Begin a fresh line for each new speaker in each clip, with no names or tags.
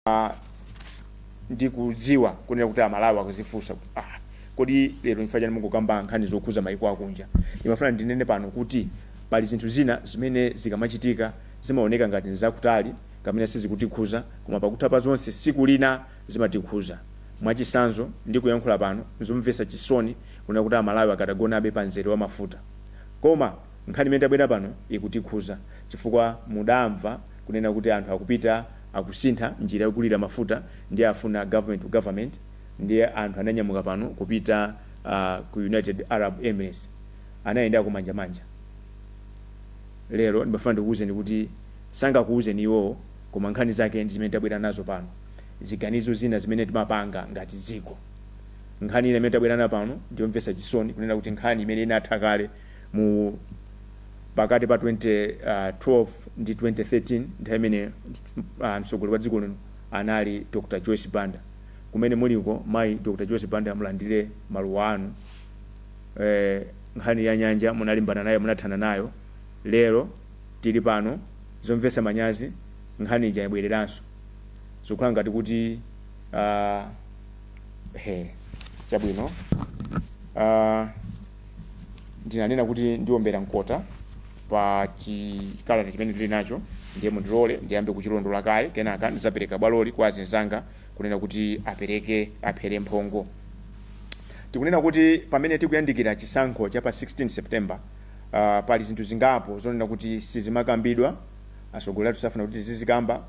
Ah, ndikudziwa kunena kuti amalawi akuzifunsa kuti, ah, kodi lero chifukwa chani mungokamba nkhani zokhuza maiko akunja ndimafuna ndinene pano kuti pali zinthu zina zimene zikamachitika zimaoneka ngati nzakutali kamene sizikutikhuza koma pakutha pa zonse siku lina zimatikhuza mwachisanzo ndikuyankhula pano nzomvetsa chisoni kunena kuti amalawi akadagonabe pa mzere wa mafuta koma nkhani imene tabwera pano ikutikhuza chifukwa mudamva kunena kuti anthu akupita akusintha njira yogulira mafuta ndiye afuna government to government ndiye anthu ananyamuka pano kupita ku united arab emirates anayendako manja manja lero ndimafuna ndikuwuzeni kuti sangakuwuzeni iwowo koma nkhani zake ndi zimene tabwera nazo pano ziganizo zina zimene timapanga ngati dziko nkhani ina imene tabwera nayo pano ndiyomvetsa chisoni kunena kuti nkhani imene inatha kale mu pakati pa 2012 ndi 2013 nthawi imene uh, mtsogoleri wa dziko lino anali Dr. Joyce Banda kumene muliko mayi Dr. Joyce Banda mulandire maluwa anu eh, nkhani ya nyanja munalimbana nayo munathana nayo lero tili pano zomvetsa manyazi nkhani ija yabwereranso zikukhala ngati kuti uh, he chabwino uh, ndinanena kuti ndiombera mkota pa chikalata chimene ndili nacho ndiye mundilole ndiyambe kuchilondola kaye kenaka ndidzapereka bwaloli kwa azinzanga kunena kuti apereke aphere mphongo tikunena kuti pamene tikuyandikira chisankho cha pa 16 september uh, pali zinthu zingapo zonena kuti sizimakambidwa atsogoleri athu safuna kuti tizizikamba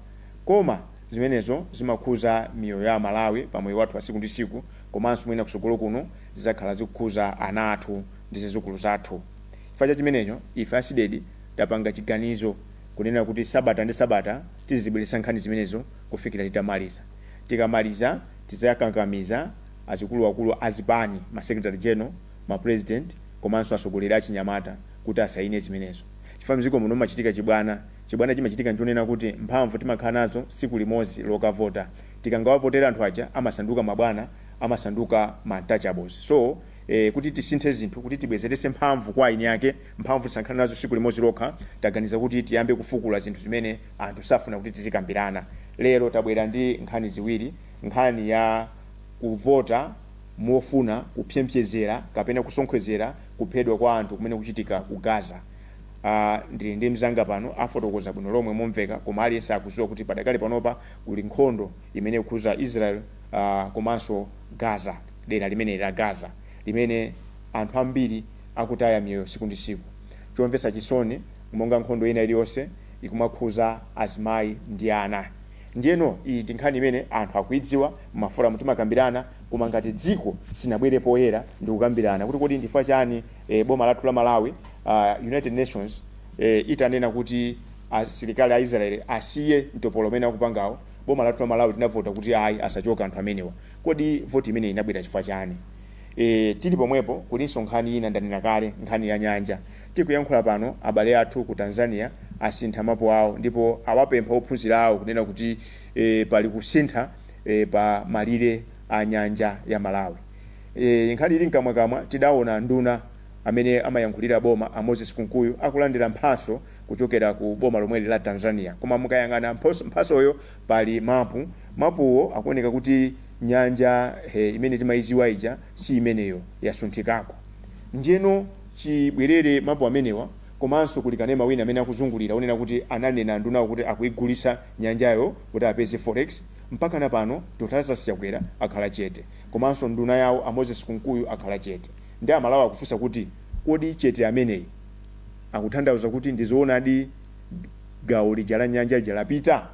koma zimenezo zimakhuza miyoyo ya amalawi pa moyo wathu wa tsiku ndi tsiku komanso mwina kutsogolo kuno zizakhala zikukhuza ana athu ndi zizukulu zathu. Chifukwa cha chimenecho ife a Cdedi tapanga chiganizo kunena kuti sabata ndi sabata tizizibweretsa nkhani zimenezo kufikira titamaliza. Tikamaliza tidzakakamiza azikuluwakulu a zipani, ma secretary general, ma president komanso atsogoleri achinyamata kuti asayine zimenezo. Chifukwa mdziko muno mumachitika chibwana. Chibwana chimachitika nchonena kuti mphamvu timakhala nazo tsiku limodzi lokavota. tikangawavotera anthu aja amasanduka mabwana amasanduka ma untouchables so eh, kuti tisinthe zinthu kuti tibwezerese mphamvu kwa aini ake mphamvu tisakhale nazo siku limodzi lokha taganiza kuti tiyambe kufukula zinthu zimene anthu safuna kuti tizikambirana lero tabwera ndi nkhani ziwiri nkhani ya kuvota mofuna kupemerera kapena kusonkhezera kuphedwa kwa anthu kumene kukuchitika ku gaza Ah, ndili ndi mzanga pano afotokoza bwino lomwe momveka koma aliyense akuziwa kuti padakali panopa Kuli nkhondo imene ikukhudza Israel komanso Gaza, dera limeneli la Gaza limene anthu ambiri akutaya miyoyo siku ndi siku. Chomvetsa chisoni monga nkhondo ina iliyonse ikumakhudza azimayi ndi ana. Ndiyeno iyi ndi nkhani imene anthu akuidziwa, mma forum timakambirana koma ngati dziko sitinabwere poyera ndikukambirana kuti kodi nchifukwa chani e, boma lathu la Malawi, United nations e, itanena kuti asilikali a israeli asiye mtopolo umene akupangawo boma lathu la malawi tinavota kuti ayi asachoke anthu amenewa kodi vote imeneyi inabwera chifukwa chani e, tili pomwepo kulinso nkhani ina ndanena kale nkhani ya nyanja tikuyankhula pano abale athu ku tanzania asintha mapu awo ndipo awapempha ophunzira awo kunena kuti e, pali kusintha e, pa malire a nyanja ya malawi Eee nkhani ili mkamwakamwa tidaona anduna amene amayankhulira boma a Moses Kunkuyu akulandira mphatso kuchokera ku boma lomweli la Tanzania koma mukayang'ana mphatsoyo pali mapu, mapuwo akuoneka kuti nyanja imene timayidziwa ija si imeneyo yasunthikako. Ndiyeno chibwerere mapu amenewa komanso kuli kanema wina amene akuzungulira onena kuti ananena andunawo kuti akuyigulitsa nyanjayo kuti apeze forex, mpaka na pano Dr Lazarus Chakwera akhala chete. komanso nduna yawo a Moses Kunkuyu akhala chete nde amalawi akufunsa kuti kodi chete ameneyi akutanthauza kuti ndizoonadi gawo lija la nyanja lija lapita?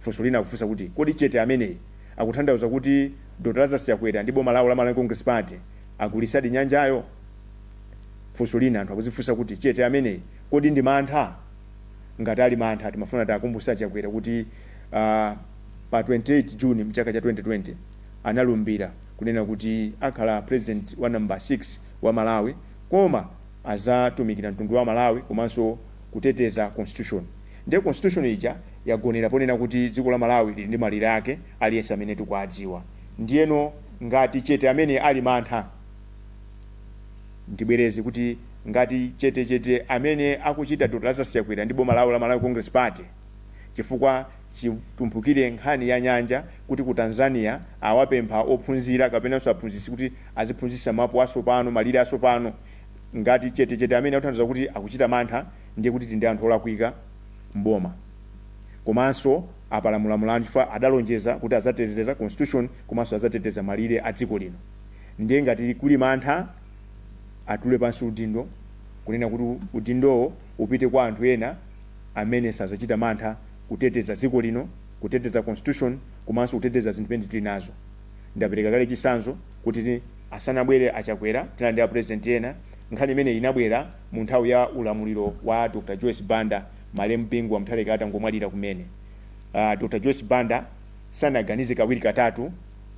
Funso lina akufunsa kuti kodi chete ameneyi akutanthauza kuti Dr Lazarus Chakwera ndi boma lawo la Malawi Congress Party agulisadi nyanjayo? Funso lina anthu akuzifunsa kuti chete ameneyi kodi ndi mantha? Ngati ali mantha timafuna tiwakumbutse a Chakwera kuti aah, pa 28 June mchaka cha 2020 analumbira kunena kuti akhala president wa number 6 wa Malawi koma azatumikira mtundu wa Malawi komanso kuteteza constitution ndiye constitution ija yagonera ponena kuti dziko la Malawi lili ndi malire ake aliyense amene tikuadziwa ndiyeno ngati chete ameneyi ali mantha ndibwereze kuti ngati chete chete amene akuchita Dr Lazarus Chakwera ndi boma lawo la Malawi Congress Party chifukwa Chitumphukire nkhani ya nyanja kuti ku Tanzania awapempha ophunzira kapenanso aphunzitsi kuti aziphunzitsa mapu asopano, malire asopano. Ngati chete chete ameneyi akutanthauza kuti akuchita mantha ndiye kuti tili ndi anthu olakwika m'boma komanso apalamula mlandu chifukwa adalonjeza kuti adzateteza constitution komanso adzateteza malire a dziko lino ndiye ngati kuli mantha atule pansi udindo kunena kuti udindowo upite kwa anthu ena amene sazachita mantha kuteteza dziko lino, kuteteza constitution komanso kuteteza zinthu zimene tili nazo. Ndapereka kale chitsanzo kuti asanabwere a Chakwera tinali ndi a President ena, nkhani imeneyi inabwera mu nthawi ya ulamuliro wa a Dr Joyce Banda malemu Bingu wa Mutharika atangomwalira kumene. A Dr Joyce Banda sanaganize kawiri katatu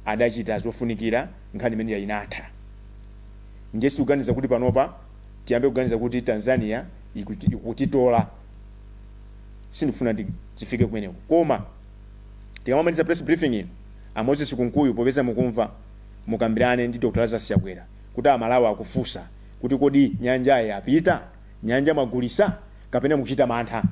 adachita zofunikira nkhani imeneyi inatha. Ndiye sitikuganiza kuti panopa. tiyambe kuganiza kuti Tanzania ikutitola sindikufuna tifike kumeneko koma tikamaliza press briefing ino a Moses Kunkuyu popeza mukumva mukambirane ndi Dr. Lazarus Chakwera kuti a Malawi akufunsa kuti kodi nyanja yapita? Nyanja mwagulisa? Kapena mukuchita mantha?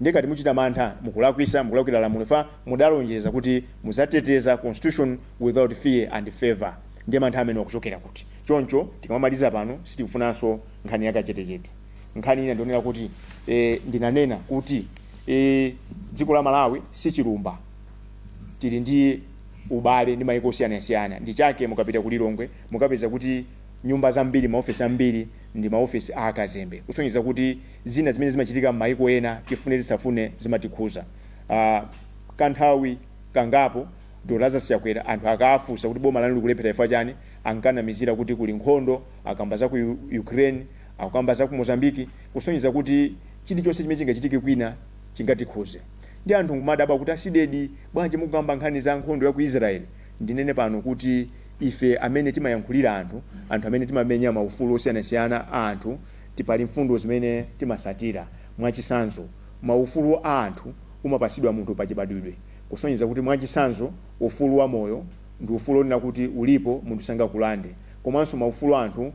Ndiye ngati muchita mantha mukulakwisa, mukulakwira lamulo chifukwa mudalonjeza kuti mudzateteza constitution without fear and favour ndiye mantha amenewo akuchokera kuti? Choncho tikamaliza pano sitikufunanso nkhani ya kachetechete. Nkhani ina ndionera kuti e, ndinanena kuti e, dziko la Malawi si chilumba, tili ndi ubale ndi maiko osiyanasiyana. Ndi chake mukapita ku Lilongwe mukapeza kuti nyumba zambiri, maofisi ambiri ndi maofisi a akazembe, kusonyeza kuti zina zimene zimachitika m'maiko ena tifune tisafune zimatikhuza. Uh, kanthawi kangapo Dr Lazarus Chakwera anthu akawafunsa kuti boma lanu likulephera chifukwa chani ankanamizira kuti kuli nkhondo, akukamba za ku Ukraine, akukamba za ku Mozambique kusonyeza kuti chilichonse chimene chingachitike kwina chingatikhuze. Ndiye anthu nkumadabwa kuti a CDEDI bwanji mukukamba nkhani za nkhondo ya ku Israel? Ndinene pano kuti ife amene timayankhulira anthu, anthu amene timamenya ma ufulu osiyanasiyana a anthu ti pali mfundo zimene timasatira. Mwachisanzo ma ufulu a anthu umapatsidwa munthu pa chibadwidwe. Kusonyeza kuti, mwachitsanzo, ufulu wa moyo ndi ufulu onena kuti ulipo munthu sangakulande, komanso maufulu a anthu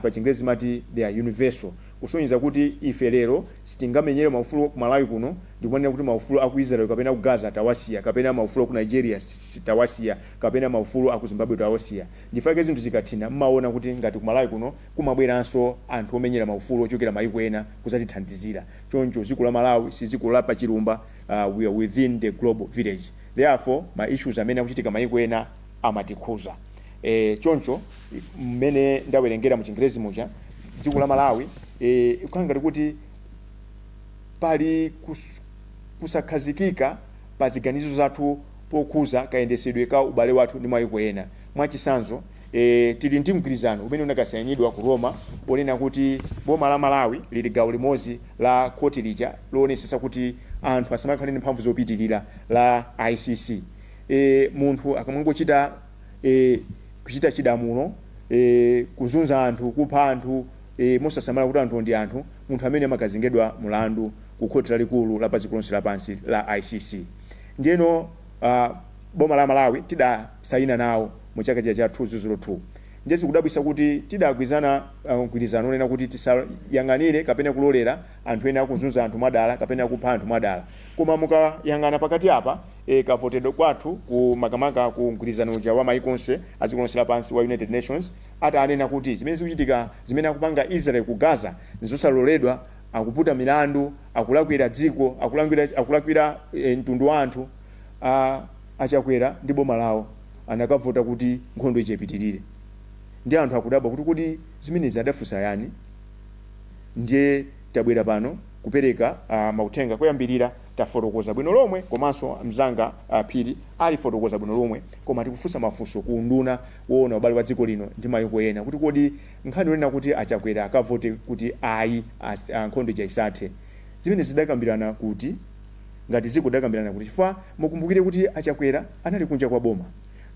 pa chingerezi timati they are universal. Kusonyeza kuti ife lero sitingamenyere maufulu ku Malawi kuno ndikumanena kuti maufulu aku Israel kapena aku Gaza tawasiya, kapena maufulu aku Nigeria tawasiya, kapena maufulu aku Zimbabwe tawasiya. Ndichifukwa chake zinthu zikathina mmaona kuti ngati ku Malawi kuno kumabweranso anthu omenyera maufulu ochokera mayiko ena kuzatithandizira. Choncho dziko la Malawi sidziko la pachilumba we are within the global village therefore ma issues amene akuchitika maiko ena amatikhuza e, choncho mmene ndawerengera mu chingerezi muja dziko la Malawi e, kukhala ngati kuti pali kus, kusakhazikika pa ziganizo zathu pokhuza kayendesedwe ka ubale wathu ndi maiko ena mwachisanzo e Tili ndi mgwirizano umene unakasayinidwa ku Roma wonena kuti boma la Malawi lili gawo limodzi la khoti lija loonetsetsa kuti anthu asamakhale ndi mphamvu zopitirira la ICC. e Munthu akamangochita e Kuchita chidamulo e Kuzunza anthu, kupha anthu e mosasamala kuti anthuwo ndi anthu, munthu ameneyo amakazengedwa mlandu ku Khoti Lalikulu la Padziko Lonse Lapansi la ICC. Ndiyeno. a boma la malawi tidasayina nawo mu chaka chija cha 2002 ndiye zikudabwisa kuti tidagwirizana ah, mgwirizano onena kuti tisayang'anire kapena kulolera anthu ena akuzunza anthu mwadala kapena kupha anthu mwadala koma mukayang'ana pakati apa eh, kavotedwe kwathu ku makamaka ku mgwirizano uja wa maiko onse adziko lonse lapansi wa united nations atanena kuti zimene zikuchitika zimene akupanga israel ku gaza zosaloledwa akuputa milandu, akulakwira dziko, akulakwira, akulakwira e, mtundu wa anthu a, a Chakwera ndi boma lawo anakavota kuti nkhondo ija ipitirire ndiye anthu akudabwa kuti kodi zimenezi adafunsa ndani ndiye tabwera pano kupereka uh, mauthenga poyambirira tafotokoza bwino lomwe komanso mzanga a Phiri alifotokoza bwino lomwe koma tikufunsa mafunso ku unduna woona ubale wa dziko lino ndi mayiko ena kuti kodi Nkhani yonena kuti a Chakwera akavote kuti ayi a nkhondo ija isathe, zimenezi tidakambirana kuti? Ngati dziko tidakambirana kuti? Chifukwa mukumbukire kuti a Chakwera anali kunja kwa boma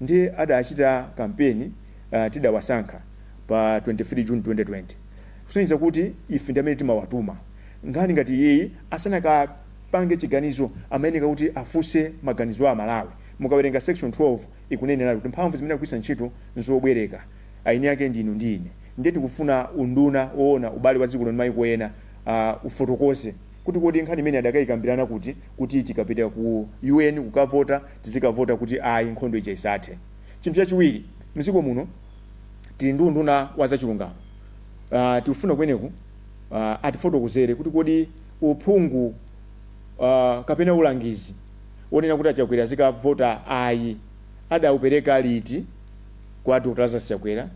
ndiye adachita kampeni tidawasankha pa 23 June 2020 kusonyeza kuti ife ndi amene timawatuma. Nkhani ngati iyiyi asanakapange chiganizo amayenera kuti afunse maganizo a Amalawi. Mukawerenga section 12 ikuneneratu kuti mphamvu zimene akugwiritsa ntchito n'zobwereka. eni ake ndinu ndi ine ndiye tikufuna unduna oona ubale wa dziko lino ndi maiko ena uh ufotokoze kuti kodi nkhani imeneyi adakaikambirana kuti kuti tikapita ku UN kukavota tizikavota kuti ayi nkhondo ija isathe. Chinthu chachiwiri mdziko muno tili ndi unduna wa zachilungamo uh tikufuna ameneyu uh atifotokozere kuti kodi uphungu uh kapena ulangizi onena kuti a Chakwera azikavota ayi adaupereka liti? kwa a Dr Lazarus Chakwera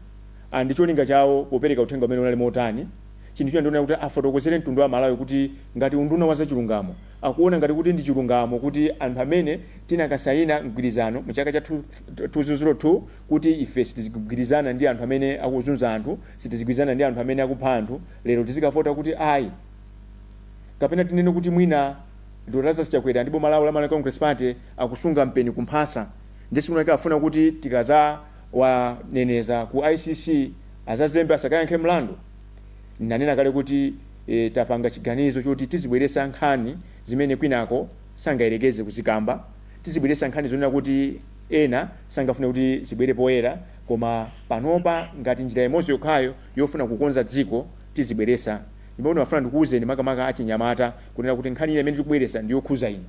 and ndi cholinga chawo popereka uthenga umenewu unali motani, chinthu china ndi chonena kuti afotokozere mtundu wa Amalawi kuti ngati unduna wa zachilungamo akuona ngati kuti ndi chilungamo kuti anthu amene tinakasayina mgwirizano mu chaka cha 2002 kuti ife sitizigwirizana ndi anthu amene akuzunza anthu, sitizigwirizana ndi anthu amene akupha anthu, lero tizikavota kuti ayi. Kapena tinene kuti mwina Dr Lazarus Chakwera ndi boma lawo la Malawi Congress Party akusunga mpeni kumphasa. Ndi si kunaka afuna kuti tikazawaneneza ku ICC azazembe asakayankhe mlandu? Ndinanena kale kuti tapanga chiganizo choti tizibweretsa nkhani zimene kwinako sangayerekeze kuzikamba, tizibweretsa nkhani zonena kuti ena sangafune kuti zibwere poyera koma panopa ngati njira imodzi yokhayo yofuna kukonza dziko tizibweretsa ndipo ndifuna ndikuuzeni makamaka achinyamata kunena kuti nkhani ina imene tikubweretsa ndiyokhuza inu.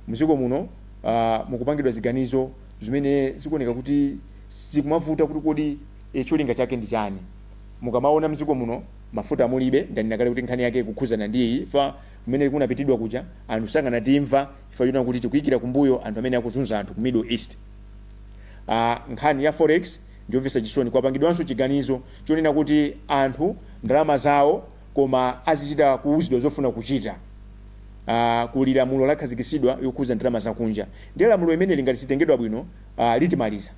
Mdziko muno uh, mukupangidwa ziganizo zimene zikuoneka kuti zikumavuta kuti kodi e, cholinga chake ndi chani. Mukamaona mdziko muno mafuta mulibe, ndanena kale kuti nkhani yake ikukhuzana ndi iyi fa kumene kunapitidwa kuja anthu sangatimve chifukwa chonena kuti tikuikira kumbuyo anthu amene akuzunza anthu ku Middle East. Uh, nkhani ya forex ndiyomvetsa chisoni, kwapangidwanso chiganizo chonena kuti anthu ndalama zawo koma azichita kuuzidwa zofuna kuchita uh, kuli lamulo lakhazikitsidwa yokhuza ndalama zakunja ndiye lamulo imeneli ngati sitengedwa bwino uh, litimaliza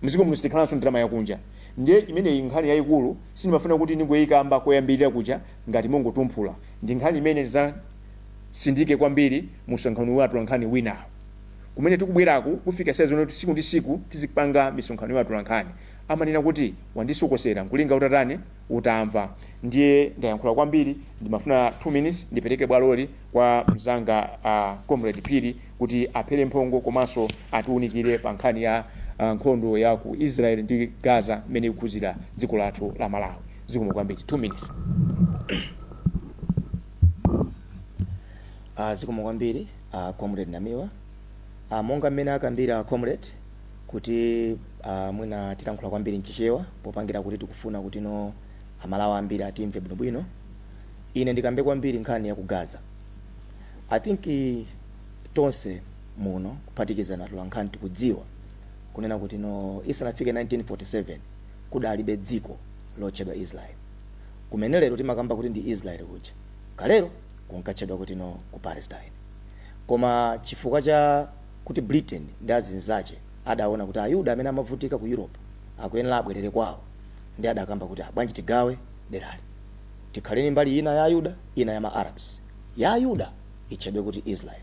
mziko muno sitikhalanso ndalama yakunja ndiye imeneyi nkhani yayikulu sindinafune kuti ndingoikamba koyambirira kuja ngati mongotumphula ndi nkhani imene tizatsindike kwambiri musonkhano wa atolankhani wina kumene tikubweraku kufika saizi kuti siku ndi siku tizipanga misonkhano ya atolankhani amanena kuti wandisokosera nkulinga utatani utamva ndiye ndayankhula kwambiri ndimafuna 2 minutes ndipereke bwaloli kwa mzanga uh, comrade phiri kuti aphere mphongo komanso atiunikire pa nkhani ya uh, nkhondo ya ku israel ndi gaza mmene ikukhuzira dziko lathu la malawi zikomo kwambiri 2 minutes
uh, zikomo kwambiri uh, comrade namiwa uh, monga mmene akambira comrade kuti uh, mwina tilankhula kwambiri mchichewa popangira kuti tikufuna kuti no aMalawi ambiri atimve bwinobwino ine ndikambe kwambiri nkhani ya ku gaza i think eh, tonse muno kuphatikiza atolankhani tikudziwa kunena kuti no isanafike 1947 kudalibe dziko lotchedwa israel kumene lero timakamba kuti ndi israel kuja kalero kunkatchedwa kuti no ku palestine koma chifukwa cha kuti Britain ndi azinzache adaona kuti Ayuda amene amavutika ku Europe akuyenera abwerere kwawo ndiye adakamba kuti ah bwanji tigawe derali tikhale ndi mbali ina ya Ayuda ina ya ma Arabs. Ya Ayuda itchedwe kuti Israel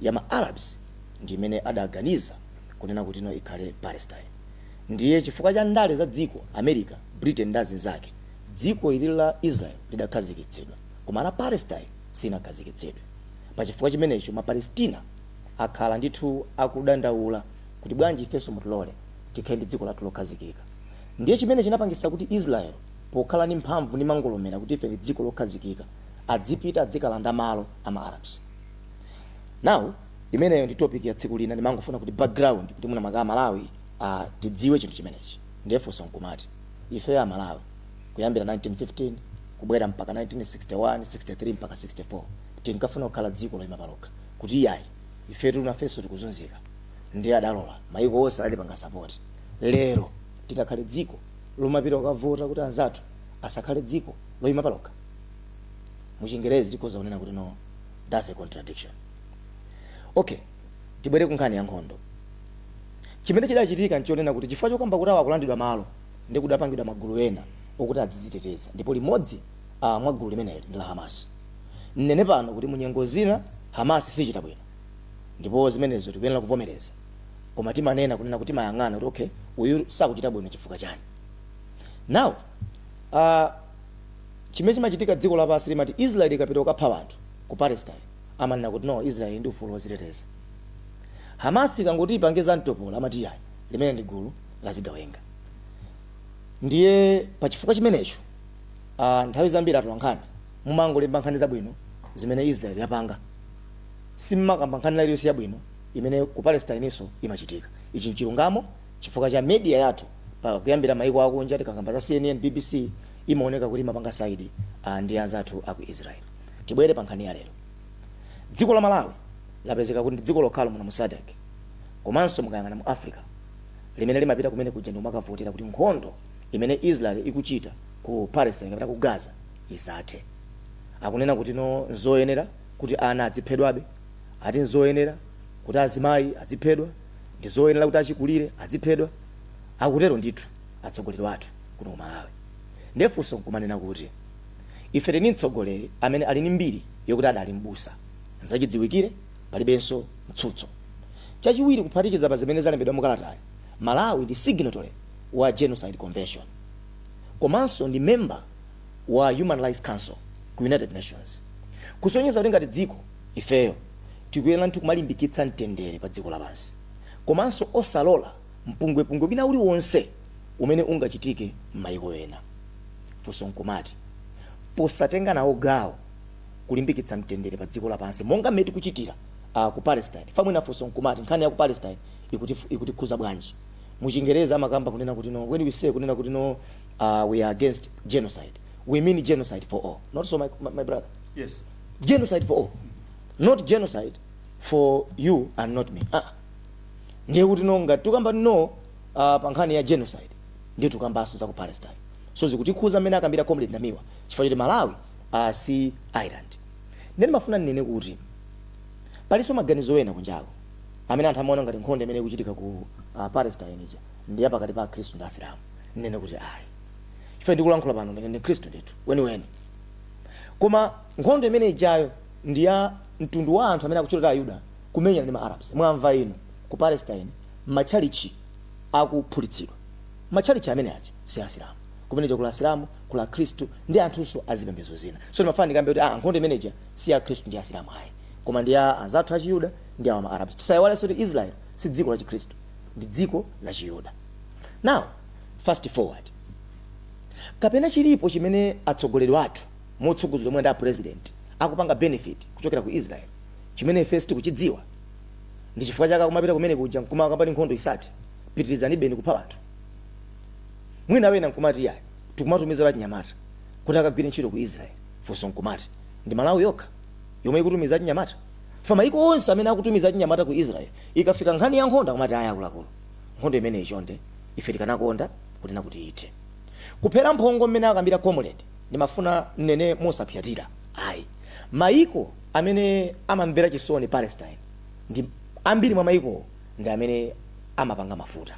ya ma Arabs ndi imene adaganiza kunena kuti no ikhale Palestine. Ndiye chifukwa cha ndale za dziko, America, Britain ndi azinzake, dziko ili la Israel lidakhazikitsidwa koma la Palestine silinakhazikitsidwe. Pa chifukwa chimenecho ma Palestina. akhala ndithu akudandaula kuti bwanji ifenso mutilole tikhale ndi dziko lathu lokhazikika. Ndiye chimene chinapangisa kuti Israel pokhala ndi mphamvu ndi mang'ombela kuti ife ndi dziko lokhazikika adzipita adzikalanda malo a ma Arabs. Now imeneyo ndi topic ya tsiku lina ndimangofuna kuti background kuti mwina mwake a Malawi a tidziwe chinthu chimenechi. Ndiye funso nkumati ifeyo a Malawi kuyambira 1915 kubwera mpaka 1961, 63 mpaka 64 tinkafuna kukhala dziko loyima palokha. kuti iyayi ifetu nafenso tikuzunzika ndiye adalola maiko onse adatipanga support lero tingakhale dziko lomapita kukavota kuti anzathu asakhale dziko loima palokha? Muchingerezi tikhoza kunena kuti no thats a contradiction. Ok tibwere kunkhani ya nkhondo. Chimene chidachitika nchonena kuti chifukwa chokamba kuti awo akulandidwa malo ndiye kudapangidwa magulu ena okuti adziziteteza ndipo limodzi mwa gulu limeneli ndi la Hamas. Ndinene pano kuti mu nyengo zina Hamas sichita bwino ndipo zimenezo tikuyenera kuvomereza koma timanena kunena kuti timayang'ana kuti okay uyu sakuchita bwino chifukwa chani now uh, chimene chimachitika dziko lapansi limati Israel ikapita kukapha anthu ku Palestine amanena kuti no Israel ndi ufulu woziteteza Hamas ikangoti ipange za mtopola amati yayi limeneli ndi gulu la zigawenga ndiye pa chifukwa chimenecho uh, nthawi zambiri atolankhani mumangolemba nkhani zabwino zimene Israel yapanga. Simumakamba nkhani ina iliyonse yabwino imene ku Palestine-nso imachitika. Ichi nchilungamo chifukwa cha media yathu pa kuyambira maiko akunja tikakamba za CNN, bbc imaoneka kuti imapanga side ndi anzathu a ku Israel. Tibwere pa nkhani ya lero. Dziko la Malawi lapezeka kuti ndi dziko lokhalo muno mu Sadc komanso mukayang'ana mu Africa limene limapita kumene kuja ndikumakavotera kuti nkhondo imene Israel ikuchita ku Palestine kapena ku Gaza isathe. Akunena kuti no nzoyenera kuti ana adziphedwabe, ati nzoyenera kuti azimayi adziphedwa, ndizoyenera kuti achikulire adziphedwa. Akutero ndithu atsogoleri athu kuno ku Malawi. Ndiye funso nkumanena kuti ife tili ndi mtsogoleri amene ali ndi mbiri yokuti adali m'busa. Nzachidziwikire palibenso mtsutso. Chachiwiri kuphatikiza pa zimene zalembedwa mu kalatayi, Malawi ndi signatory wa Genocide Convention komanso ndi member. wa Human Rights Council ku United Nations kusonyeza kuti ngati dziko ifeyo tikuyenera ndithu kumalimbikitsa mtendere pa dziko lapansi komanso osalola mpungwepungwe wina uliwonse umene ungachitike m'mayiko ena. Funso n'kumati, posatenga nawo gawo kulimbikitsa mtendere pa dziko lapansi monga mmene tikuchitira ku Palestine, fa mwina funso n'kumati nkhani ya ku Palestine ikutikhuza bwanji? Mu Chingerezi amakamba kunena kuti no, when we say kunena kuti no, uh, we are against genocide we mean genocide for all not so my, my, my brother
yes. genocide for
all not genocide for you and not me ah. ndiye kuti no ngati tukamba no uh, pa nkhani ya genocide ndiye tukambanso za ku palestine so zikutikhuza mmene akambira comrade namiwa chifukwa choti malawi uh, si island ndiye ndimafuna ndinene kuti palinso maganizo ena kunjako amene anthu amaona ngati nkhondo imene ikuchitika ku uh, palestine ija ndi ya pakati pa akhristu ndi asilamu ndinene kuti ayi chifukwa ndikulankhula pano ndine ndi mkhristu ndithu weniweni koma nkhondo imene ijayo ndi ya mtundu wa anthu amene akutchedwa ayuda kumenyana ndi maarabs mwamva inu ku palestine matchalichi akuphulitsidwa matchalichi amene aja si asilamu kumene kula asilamu kula akhristu ndi anthunso azipembezo zina so ndimafana ndikambe kuti ah, nkhondo imeneja si ya akhristu ndi asilamu ayi koma ndi ya anzathu achiyuda ndi awa maarabs tisayiwalenso kuti israel si dziko lachikhristu ndi dziko la chiyuda now fast forward kapena chilipo chimene atsogoleri athu motsogozedwa mwina ndi a president akupanga benefit kuchokera ku israel chimene ife sitikuchidziwa ndi chifukwa chake akumapita kumene kuja nkumakapanga nkhondo support pitirizanibeni kupha anthu mwina wena nkumati yayi tikumatumiza achinyamata kuti akagwire ntchito ku israel funso nkumati ndi malawi yokha yomwe ikutumiza achinyamata? Chifukwa mayiko onse amene akutumiza achinyamata ku Israel, ikafika nkhani ya nkhondo akumati ayi akuluakulu, nkhondo imeneyi chonde ife tikanakonda kunena kuti ithe. Kuphera mphongo mmene akambira comrade, ndimafuna nnene mosapsatira ayi. Mayiko amene amamvera chisoni Palestine ndi ambiri mwa mayikowo ndi amene amapanga mafuta.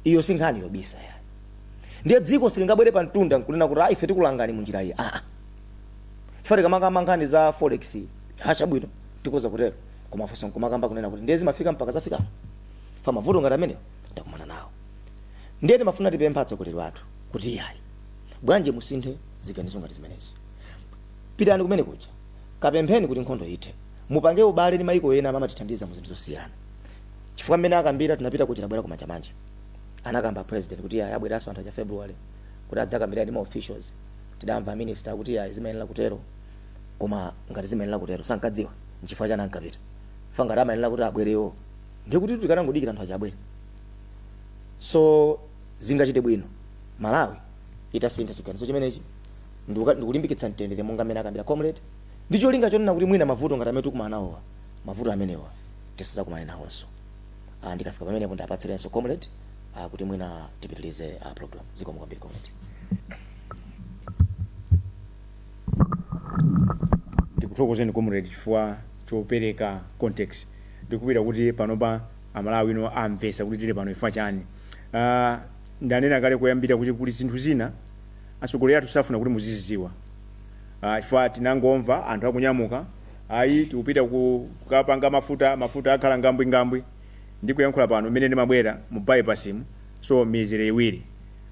Iyo si nkhani yobisa yayi. Ndiye dziko silingabwere pamtunda nkunena kuti ayi ife tikulangani munjira iyi aa. chifukwa tikamakamba nkhani za forex ha chabwino tikhoza kutero koma funso nkumakamba kunena kuti ndiye zimafika mpaka zafika pa mavuto ngati amene takumana nawo ndiye timafuna tipempha atsogoleri athu kuti iyayi bwanji musinthe ziganizo ngati zimenezi pitani kumene kuja kapempheni kuti nkhondo ithe mupange ubale ndi maiko ena amatithandiza mu zinthu zosiyana chifukwa mmene akambira tinapita kuja tabwera kumanjamanja anakamba president kuti iyayi abweranso anthu acha february kuti adzakambirane ndi ma officials Tidamva a minister akuti yayi zimayenera kutero koma ngati zimayenera kutero sankadziwa nchifukwa chani ankapita chifukwa ngati amayenera kuti abwere iwowo ndiye kutitu tikanangodikira anthu aja abwere so zingachite bwino Malawi itasintha chiganizo chimenechi ndikuka- ndikulimbikitsa mtendere monga mmene akambira comrade ndi cholinga chonena kuti mwina mavuto ngati amene tikumana nawowa mavuto amenewa tisazakumane nawonso Ah, ndikafika pamenepo ndiwapatsirenso comrade ah, kuti mwina tipitirize ah, program zikomo kwambiri comrade
ndikuthokozeni comrade chifukwa chopereka context ndikupita kuti panopa amalawi ino amvesa kuti tili pano ifa chani uh, ndanena kale koyambira kuti kuli zinthu zina atsogoleri athu safuna kuti muzizidziwa uh, chifukwa tinangomva anthu akunyamuka ayi tikupita ku- kukapanga mafuta mafuta akhala ngambwingambwi ndikuyankhula pano mmene ndimabwera mu bypass mu so mizere iwiri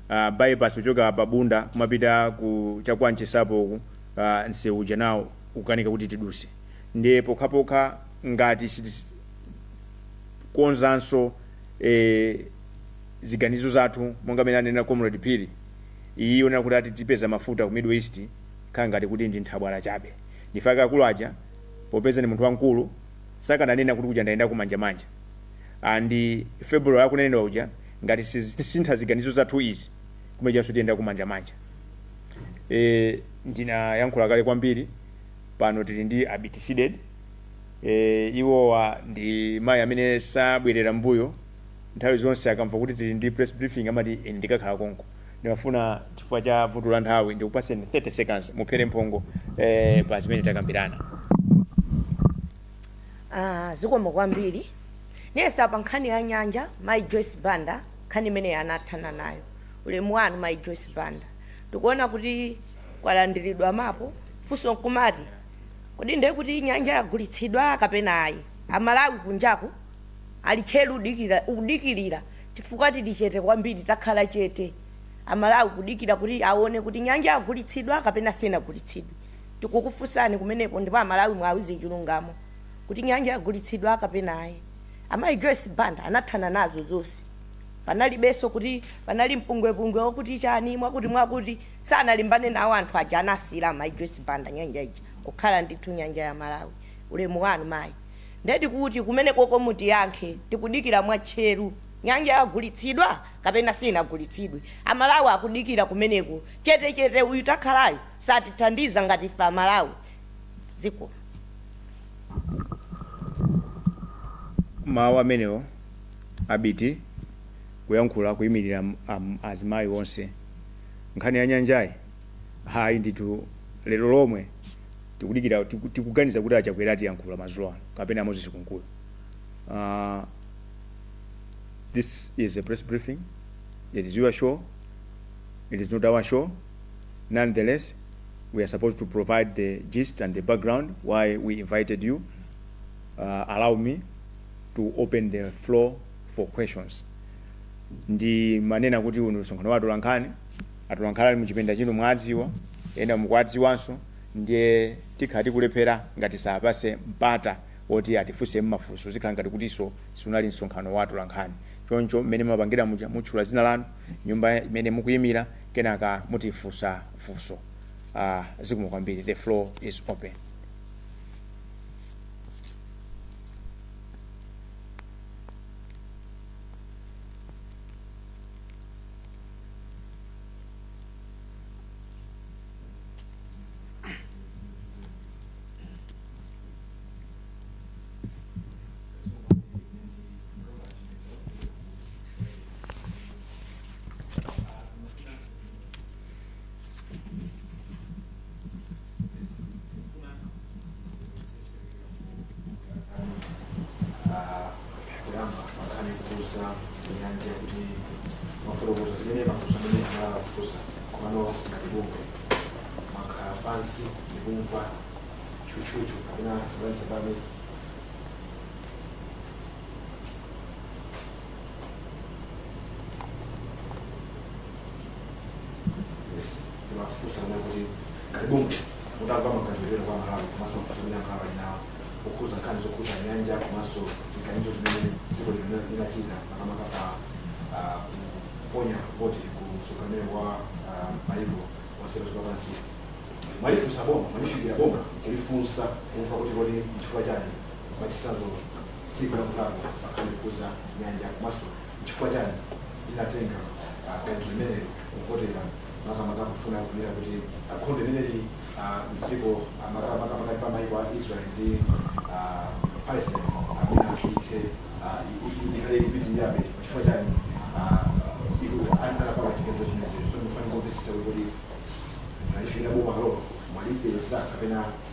a bypass kuchoka pa Bunda kumapita ku cha kwa Nchesi apo uku nsewu uja nawo ukukanika kuti tiduse ndiye pokhapokha ngati sitikonzanso e, ziganizo zathu monga mmene anena comrade Phiri iyi yonena kuti ati tipeza mafuta ku Middle East khala ngati kuti ndi nthabwala chabe ndifa akulu aja popeza ndi munthu wamkulu sakananena kuti kuja ndayenda kumanjamanja and February akunenedwa uja ngati sitisintha ziganizo zathu izi kumenekonso tiyenda kumanjamanja e, ndinayankhula kale kwambiri pano tili ndi abiti Sidik e, iwowa ndi mayi amene sabwerera mbuyo nthawi zonse akamva kuti tili ndi press briefing amati "Ine ndikakhala konko Ndimafuna chifukwa cha vuto la nthawi ndikupaseni 30 seconds muphere mphongo eh, pa zimene takambirana
Ah, zikomo kwambiri Ndiyesa pa nkhani ya nyanja mayi Joyce Banda nkhani imeneyi anathana nayo. Ulemu wanu mayi Joyce Banda. Tikuona kuti kwalandiridwa mapu. Funso nkumati kodi ndiye kuti nyanja yagulitsidwa kapena ayi? Amalawi kunjaku ali tcheru udikira, kudikirira chifukwa tili chete kwambiri takhala chete Amalawi kudikira kuti aone kuti nyanja yagulitsidwa kapena sinagulitsidwe. Tikukufunsani kumenepo ndipo Amalawi muwauze chilungamo. kuti nyanja yagulitsidwa kapena ayi. Amayi Joyce Banda anathana nazo zonse. Panalibenso kuti panali mpungwepungwe wakuti chani, mwakuti mwakuti. Sanalimbane nawo anthu aja anasiyira amayi Joyce Banda nyanja ija kukhala ndithu nyanja ya Malawi. Ulemu wanu mayi. Nde tikuti kumenekoko mutiyankhe. Tikudikira mwatcheru. Nyanja yagulitsidwa kapena sinagulitsidwe. Amalawi akudikira kumeneko. Chete chete uyu takhalayu satithandiza ngati ife amalawi. Zikomo.
mawu amenewo abiti kuyankhula kuyimirira am- am- azimayi onse nkhani ya nyanjayi hayi ndithu lero lomwe tikudikira tiku- tikuganiza kuti achakwera atiyankhula mazulo ano kapena a Moses Kunkuyu uh, this is a press briefing it is your show it is not our show Nonetheless, we are supposed to provide the gist and the background why we invited you. Uh, allow me to open the floor for questions. ndimanena kuti uno ndi msonkhano wa atolankhani atolankhani ali muchipinda chino mwadziwa ena mukwadziwanso ndiye tikhala tikulephera ngati sitiwapatsa mpata woti atifunse mafunso zikhala ngati kutinso siunali msonkhano wa atolankhani choncho mmene mumapangira muja mutchula dzina lanu nyumba imene mukuyimira kenaka mutifunse funso uh, zikomo kwambiri the floor is open kuyamba nkhani yokhudza nyanja
kuti mwafotokoza zimene mafunso amene Amalawi akufunsa komano ngati bungwe, mwakhala pansi ndikumva chuchuchu kapena sabanisabani Yes. Kuna fursa moja kuti karibuni mutamva maganiziro kwa Malawi komanso mafunso amene anthu ali nawo okhudza nkhani zokhudza nyanja komanso ziganizo zimene dziko lino linachita makamaka pa ah, kuponya voti ku msonkhano wa ah, maiko onse a dziko lapansi mwalifunsa boma mwalifikira boma kulifunsa kumva kuti kodi nchifukwa chani Mwachitsanzo, pankhani yokhudza nyanja komanso chifukwa chani inatenga pempho limeneli kuvotera makamaka kufuna kunena kuti ah, nkhondo imeneli ah, mdziko ah, maka- makamaka pa maiko a israel ndi ah, palestine imene ithe ah, i- i- ikhale ikupitirirabe chifukwa chani ah, iku- an- anapanga chiganizo chimenecho so ndimafuna kumvetsetsa kuti mwalifikira bomalo mwalipeza kapena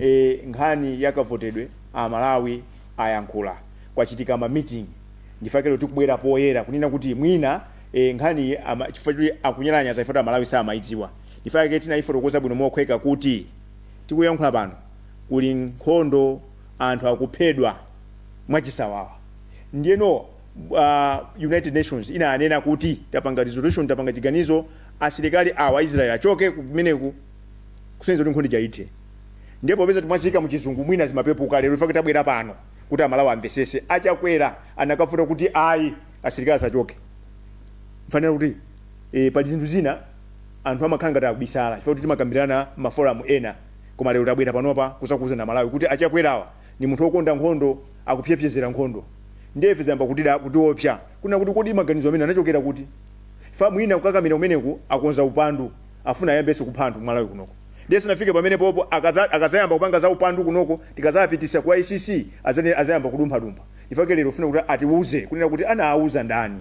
e nkhani ya kavotedwe a Malawi ayankhula, kwachitika ma meeting ndi chifukwa chake lero tikubwera poyera kunena kuti mwina e nkhaniyi ama chifukwa choti akunyalanyaza chifukwa choti a Malawi samayidziwa ndi chifukwa chake tiyifotokoze bwino mophweka kuti tikuyankhula pano kuli nkhondo anthu akuphedwa mwachisawawa ndiyeno a United Nations inanena kuti tapanga resolution tapanga chiganizo asilikali awa Israel achoke kumeneku kusonyeza kuti nkhondija ithe ndiye popeza timaziika muchizungu mwina zimapepuka lero ife tabwera pano kuti aMalawi amvesese a Chakwera anakavota kuti ayi asilikali asachoke chifukwa kuti e, pali zinthu zina anthu amakhala ngati akubisala chifukwa kuti timakambirana maforamu ena koma lero tabwera panopa kuzakuuzani aMalawi kuti a Chakwerawa ndi munthu wokonda nkhondo akupemerera nkhondo ndiye ife zayamba kutida kutiopsa kunena kuti kodi maganizo amene anachokera kuti chifukwa mwina kukakamira kumeneku akonza upandu afuna ayambenso kupha anthu ku Malawi kunoko ndiye tisanafike pamenepopo akaza akazayamba kupanga za upandu kunoko tikazapitisa ku ICC azane azayamba kudumphadumpha nchifukwa chake lero tikufuna kuti atiuze kunena kuti anaauza ndani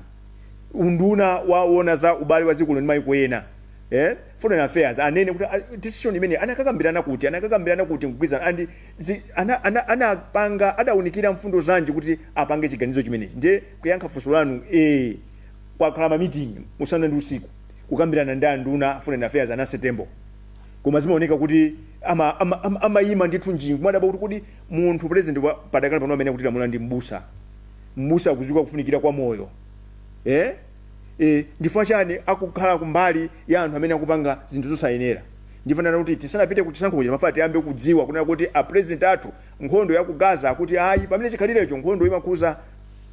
unduna woona za ubale wa dziko lino ndi maiko ena eh foreign affairs anene kuti ah, decision imene anakakambirana kuti anakakambirana kuti n'kugwirizana and zi- ana- ana- anapanga adaunikira mfundo zanji kuti apange chiganizo chimenechi ndiye kuyankha funso lanu eh kwakhala ma meeting usana ndi usiku kukambirana ndi anduna a foreign affairs a Nancy Tembo koma zimaoneka kuti amayima ama, ama, amayima ndithu nji n'kumadabwa kuti kodi munthu president wa- padakali pano amene akutilamula ndi mbusa mbusa akudziwa kufunikira kwa moyo eh? Eh, nchifukwa chani akukhala kumbali ya anthu amene akupanga zinthu zosayenera ndiye tinafuna kuti tisanapite ku chisankho chino timafuna tiyambe kudziwa kunena kuti a president athu nkhondo ya ku Gaza akuti ayi pamene chikhalirecho nkhondo imakhuza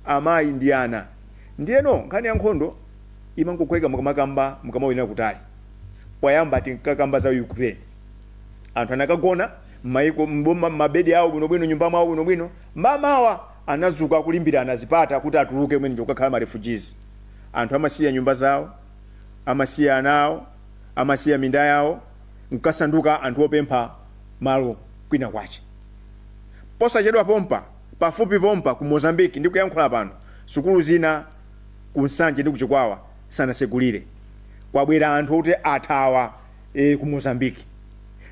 amayi ndi ana ndiyeno nkhani ya nkhondo imangophweka mukamakamba mukamaonera kutali. Poyamba tinkakamba za Ukraine. Anthu anakagona m'mayiko m'boma m'mabedi awo bwinobwino nyumba mwawo bwinobwino. Mamawa anadzuka akulimbirana zipata kuti atuluke kumeneko kukakhala ma refugees. Anthu amasiya nyumba zawo, amasiya ana awo, amasiya minda yawo n'kukasanduka anthu opempha malo kwina kwache. Posachedwa pompa, pafupi pompa ku Mozambique ndikuyankhula pano, sukulu zina ku Nsanje ndi ku Chikwawa sanasegulire. Kwabwera anthu oti athawa ee ku Mozambique.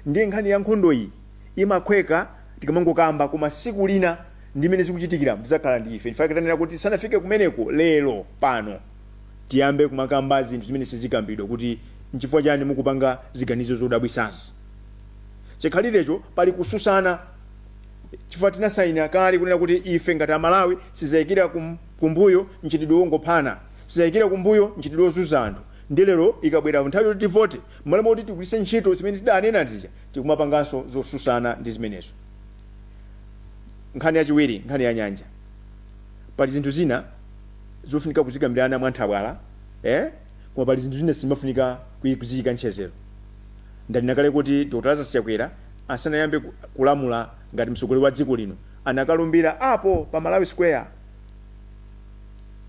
Ndiye nkhani ya nkhondo iyi imaphweka tikamangokamba koma tsiku lina ndi mmene zikuchitikira tidzakhala ndi ife chifukwa chake tanena kuti tisanafike kumeneko lero pano tiyambe kumakamba zinthu zimene sizikambidwa kuti nchifukwa chani mukupanga ziganizo zodabwitsazi. Chikhalirecho pali kususana chifukwa tinasaina kale kunena kuti ife ngati a Malawi sitizaikira ku kumbuyo mchitidwe wongophana, sitizaikira kumbuyo mchitidwe wozunza anthu, ndiye lero ikabwera nthawi yoti tivote, mmalo moti tigwiritse ntchito zimene tidanena zija, tikumapanganso zosusana ndi zimenezo. Nkhani yachiwiri, nkhani ya nyanja. Pali zinthu zina zofunika kuzikambirana mwa nthabwala, eh, koma pali zinthu zina sizimafunika kui kuziika ntchedzero. Ndanena kale kuti Dr. Lazarus Chakwera asanayambe ku, kulamula ngati mtsogoleri wa dziko lino, anakalumbira apo pa Malawi Square,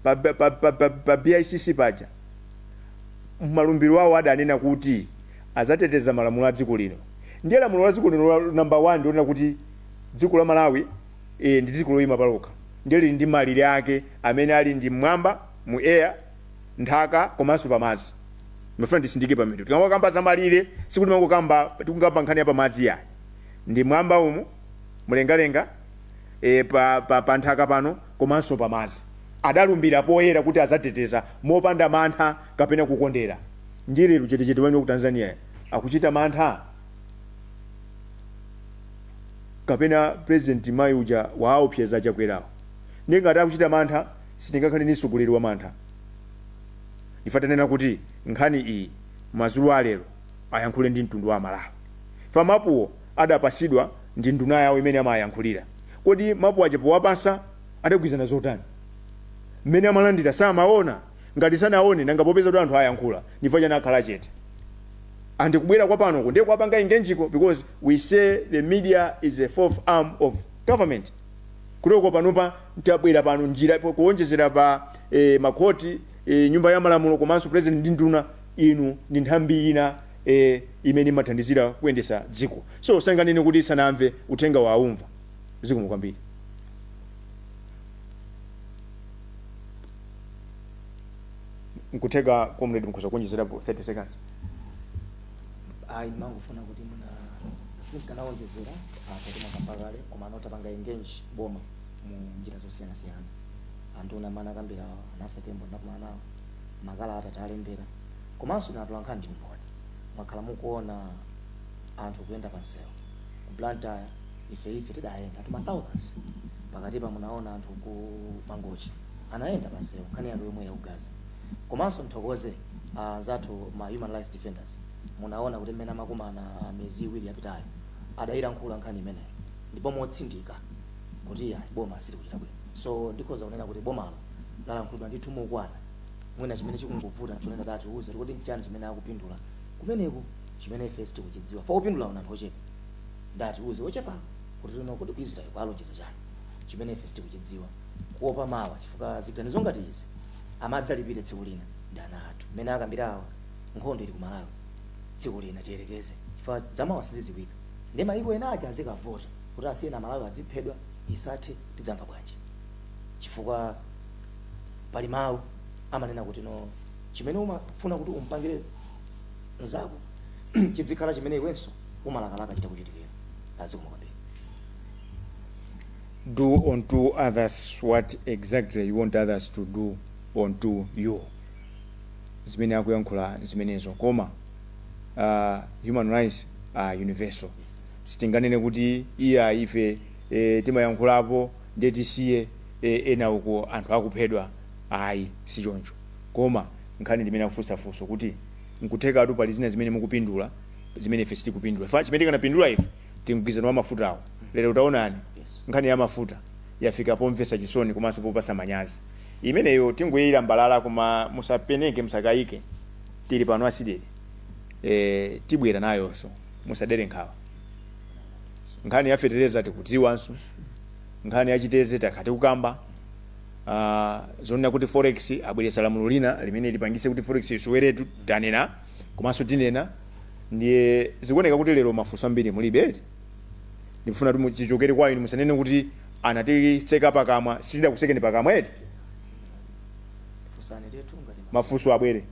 pa, pa, pa, pa, pa, pa BICC paja malumbiro awo adanena kuti azateteza malamulo a dziko lino ndiye lamulo la dziko lino la number 1 ndi lonena kuti dziko la Malawi e, ndi dziko loyima palokha ndiye lili ndi malire ake amene ali ndi mmwamba mu air nthaka komanso pamadzi ndimafuna nditsindike pamene tikamakamba za malire sikuti timangokamba tikukamba nkhani ya pamadzi yayi ndi mwamba umu mlengalenga e, pa, pa, pa nthaka pano komanso pa madzi. Adalumbira poyera kuti adzateteza mopanda mantha kapena kukondera. Ndiye lero chetechete wawo wa ku Tanzania akuchita mantha? Kapena President mayi uja waawopseza Chakwerawo? Ndiye ngati akuchita mantha, sitingakhale ndi mtsogoleri wamantha. Nde ife tanena kuti nkhani iyi madzulo a lero ayankhule ndi mtundu wa Amalawi. Chifukwa mapuwo adapasidwa ndi nduna yawo imene amayankhulira. Kodi mapu aja powapasa adagwizana zotani? Mmene amalandira samaona? Ngati sanaone nanga popeza kuti anthu ayankhula ndifukwa chani akhala chete? And kubwera kwa panoku ndiye kuwapanga engage-ko because we say the media is a fourth arm of government. Kotero panopa tabwera pano njira kuonjezera pa ma court, nyumba ya malamulo komanso president ndi nduna inu ndi nthambi ina. e imene imathandizira kuyendesa dziko so sanganene kuti sanamve uthengawo aumva zikomo kwambiri. Nkutheka comrade mukhoza kuonjezerapo 30 seconds.
ayi ndimangofuna kuti muna sindikanawonjezera apa timakamba kale koma anthu tapanga engage boma mu njira zosiyanasiyana anthu monga mmene anakambira a Namiwa tembo ndinakumanawo makalata tawalembera Komanso inu atolankhani ndi mboni mwakhala mukuona anthu kuyenda pa nseu ku Blantyre ife ife tidayenda anthu ma thousands pakatipa munaona anthu ku Mangochi anayenda pa nseu nkhani yake yomweyi ya ku Gaza komanso mthokoze anzathu ma human rights defenders munaona kuti mmene amakumana miyezi iwiri yapitayo adailankhula nkhani imeneyo ndipo motsindika kuti ayi boma silikuchita bwino so ndikhoza kunena kuti bomalo lalankhulidwa ndithu mokwana. Mwina chimene chikungovuta n'chonena kuti atiuze kuti kodi n'chiyani chimene akupindula kumeneku chimene ife sitikuchidziwa. Chifukwa opindulawo ndi anthu ochepa. Ndiye atiuze ochepawo kuti lero kodi ku Israel kwawalonjeza chani chimene ife sitikuchidziwa. Kuopa mawa chifukwa ziganizo ngati izi amadzalipire tsiku lina ndi ana athu. Mmene akambira awa nkhondo ili ku Malawi tsiku lina tiyerekeze chifukwa zamawa sizidziwika. Ndiye mayiko ena aja azikavota kuti asiyeni Amalawi adziphedwa isathe tidzamva bwanji chifukwa. pali mawu amanena kuti no chimene umafuna kuti umpangire mzako chidzikhala chimene iwenso umalakalaka chitakuchitikira zikomo kwambiri
do unto others what exactly you want others to do unto you zimene akuyankhula zimenezo koma uh, human rights are universal sitinganene kuti iya ife eh, timayankhulapo nde tisiye ena uko anthu akuphedwa ayi sichoncho koma nkhani ndimene akufunsa funso kuti nkuthekatu pali zina zimene mukupindula zimene ife sitikupindula chifukwa chimene tikanapindula ife ndi mgwirizano wa mafutawo lero taonani nkhani ya mafuta yafika pomvesa chisoni komanso popasa manyazi imeneyo tingoilambalala koma musapeneke musakayike tili pano a cdedi tibwera nayonso musadere nkhawa nkhani ya fetereza tikudziwanso. nkhani ya chiteze takhala tikukamba uh, zonena kuti forex abweresa lamulo lina limene lipangise kuti forex isoweretu tanena komanso tinena ndiye zikuoneka kuti lero mafunso ambiri mulibe eti ndikufuna kuti muchichokere kwa inu musanene kuti anatitseka pakamwa sitidakutsekeni pakamwa eti mafunso abwere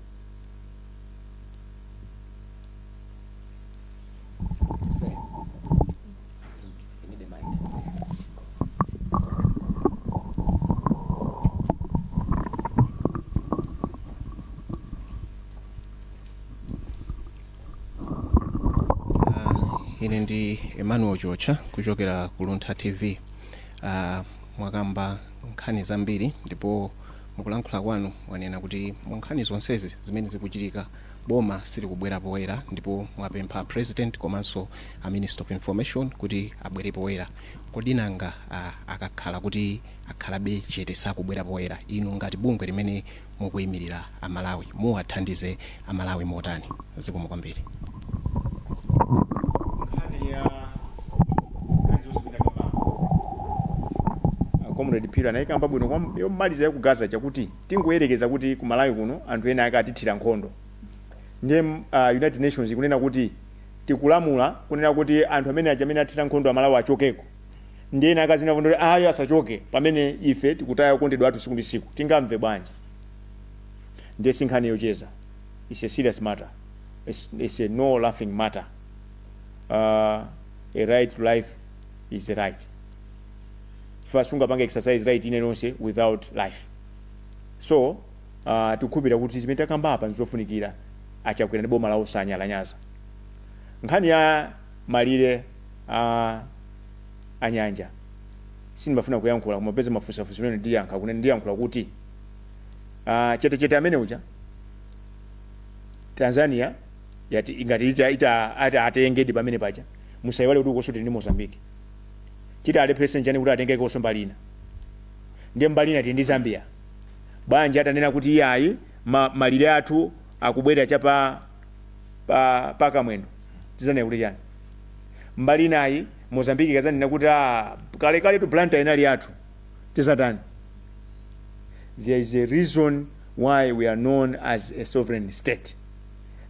ine ndi emmanuel chiotcha kuchokera ku luntha tv uh, mwakamba nkhani zambiri ndipo mukulankhula kwanu mwanena kuti mu nkhani zonsezi zimene zikuchitika boma silikubwera poyera ndipo mwapempha president komanso a minister of information kuti abwere poyera kodi nanga akakhala kuti akhalabe chete sakubwera poyera inu ngati bungwe limene mukuimilira a Malawi muwathandize a Malawi motani zikomo kwambiri. nkhani ya
nkhani zonse zimene akambako Ah, comrade phiri anayikamba bwino kwam- yomaliza ya ku gaza chakuti tingoyerekeza kuti ku malawi kuno anthu ena akatithira nkhondo ndiye uh, united nations ikunena kuti tikulamula kunena kuti anthu amene aja amene athira nkhondo amalawi achokeko ndiye ena akudzinenapo ndoti ayi asachoke pamene ife tikutaya okondedwa athu tsiku ndi tsiku tingamve bwanji ndiye si nkhani yocheza it's a serious matter it's, it's a no laughing matter uh, a right to life is a right chifukwa sungapange exercise right ina iliyonse without life so Aaa tikukhulupilira kuti zimene takamba apa ndizofunikira achakwera ndi boma lawo asanyalanyaza nkhani ya malire a a nyanja sindimafuna kuyankhula koma popeza mwafunsa funso limeneli ndiyankha kunena ndiyankhula kuti Aaa chete chete amene uja Tanzania yati ingati ita, ita ati atengedi pamene paja musaiwale kuti ukonso tili ndi Mozambique chiti chiwalepheretse nchani kuti atengekonso mbali ina ndiye mbali ina tili ndi Zambia Bwanji atanena kuti, Iyayi, ma, malire athu akubwera cha pa, pa, pa Kamwendo? Tidzanena kuti chani? Mbali inayi, Mozambique ikadzanena kuti, Ah, kalekaletu Blantyre inali yathu, tidzatani? There is a reason why we are known as a sovereign state.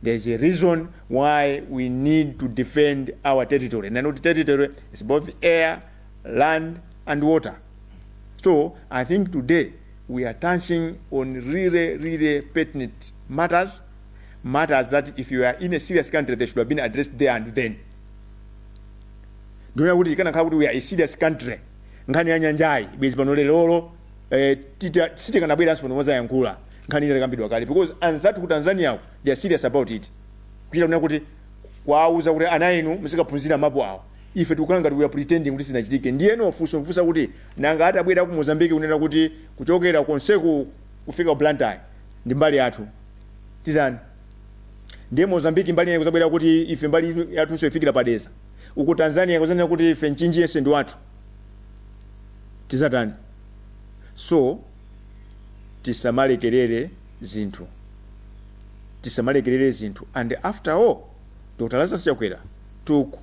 There is a reason why we need to defend our territory. And our territory is both air, land and water so i think today we are touching on really really pertinent matters matters that if you are in a serious country they should have been addressed there and then ndimaona kuti ikanakhala kuti we are a serious country nkhani ya nyanjayi bwezi pano lerolo eh, tita- sitikanabweranso pano mozayankhula nkhani inakambidwa kale because anzathu ku tanzania ku, they are serious about it kuchita kunena kuti kwauza kuti ana inu muzikaphunzira mapu awo Ife tikukhala ngati we are pretending kuti sizinachitike. Ndiyeno funso nkufunsa kuti nanga atabwera aku Mozambique kunena kuti kuchokera konseku kufika ku Blantyre ndi mbali yathu, titani? Ndiye Mozambique mbali inayi kudzabwera kuti ife mbali iyi yathunso ifikira pa Dedza. Uko Tanzania kudzanena kuti ife Mchinji yense ndi wathu. Tidzatani? So, tisamalekerere zinthu. Tisamalekerere zinthu. And after all, Dr. Lazarus Chakwera took.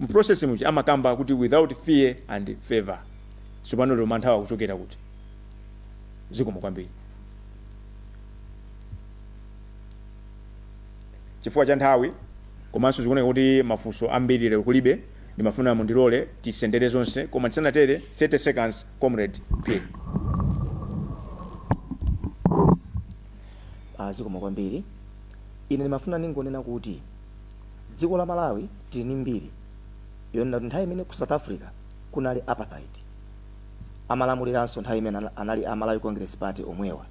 mu process muja amakamba kuti without fear or favour sopano lero manthawa akuchokera kuti zikomo kwambiri chifukwa cha nthawi komanso zikuoneka kuti mafunso ambiri lero kulibe ndimafuna mundilole tisendere zonse koma tisanatere 30 seconds comrade
Phiri. aa zikomo kwambiri ine ndimafuna ningonena kuti Dziko la Malawi tili ndi mbiri yonena kuti nthawi imene ku South Africa kunali Apartheid, amalamuliranso nthawi imeneyo anali a Malawi Congress Party omwewa,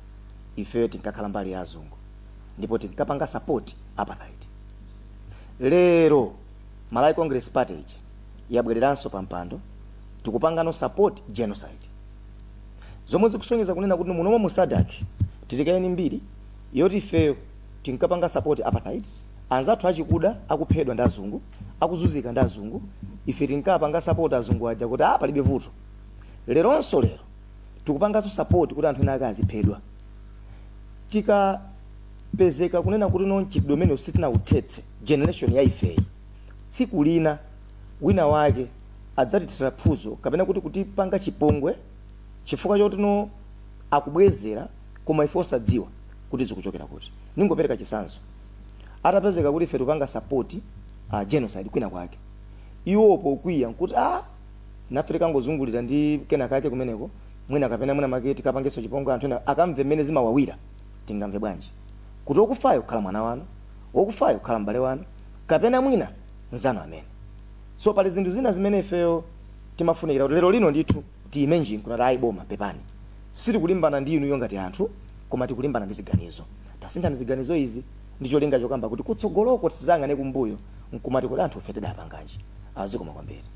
ifeyo tinkakhala mbali ya azungu ndipo tinkapanga support Apartheid. Lero Malawi Congress Party ija yabwereranso pa mpando, tikupangano support Genocide. Zomwe zikusonyeza kunena kuti munomo mu SADC tili kaye ndi mbiri yoti ifeyo. tinkapanga support apartheid anzathu achikuda akuphedwa ndi azungu akuzunzika ndi azungu ife tinkapanga support azungu aja kuti ah palibe vuto leronso lero tikupanganso support kuti anthu ena akaziphedwa tikapezeka kunena kuti no mchitidwe umene sitinauthetse generation ya ifeyi tsiku lina wina wake adzatithira phunzo kapena kuti kutipanga chipongwe chifukwa choti no akubwezera koma ife osadziwa kuti zikuchokera kuti. Ndingopereka chitsanzo. Atapezeka kuti ife tikupanga support uh, genocide kwina kwake. Iwo pokwiya nkuti ah nafe tikangozungulira ndi kena kake kumeneko mwina kapena mwina make tikapangenso chipongwe anthu ena akamve mmene zimawawira tingamve bwanji kuti okufayo kukhala mwana wanu okufayo kukhala m'bale wanu kapena mwina nzanu amene so pali zinthu zina zimene ifeyo timafunikira kuti lero lino ndithu Tiime nji nkunena kuti ayi boma pepani sitikulimbana ndi inuyo ngati anthu koma tikulimbana ndi ziganizo. Tasinthani ziganizo izi ndi cholinga chokamba kuti kutsogoloko tisadzayang'ane kumbuyo nkumati kodi anthufe tidapanganji. Aaa zikomo kwambiri.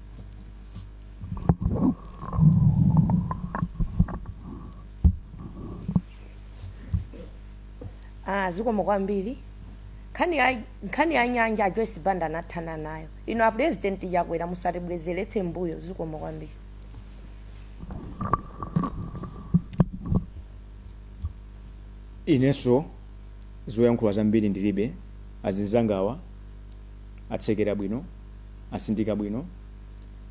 Aaa zikomo kwambiri. Nkhani ya nkhani ya nyanja a Joyce Banda anathana nayo. Inu a Pulezidenti Chakwera musatibwezeretse m'mbuyo zikomo kwambiri.
inenso zoyankhula zambiri ndilibe azinzangawa atsekera bwino asindika bwino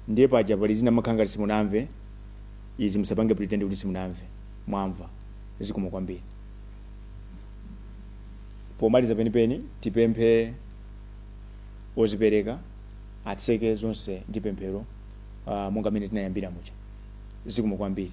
ndiye paja pali zina makhala ngati simunamve izi musapange pretend kuti simunamve mwamva zikomo kwambiri pomaliza penipeni tipemphe ozipereka atseke zonse ndi pemphero uh, monga mmene tinayambira muja zikomo kwambiri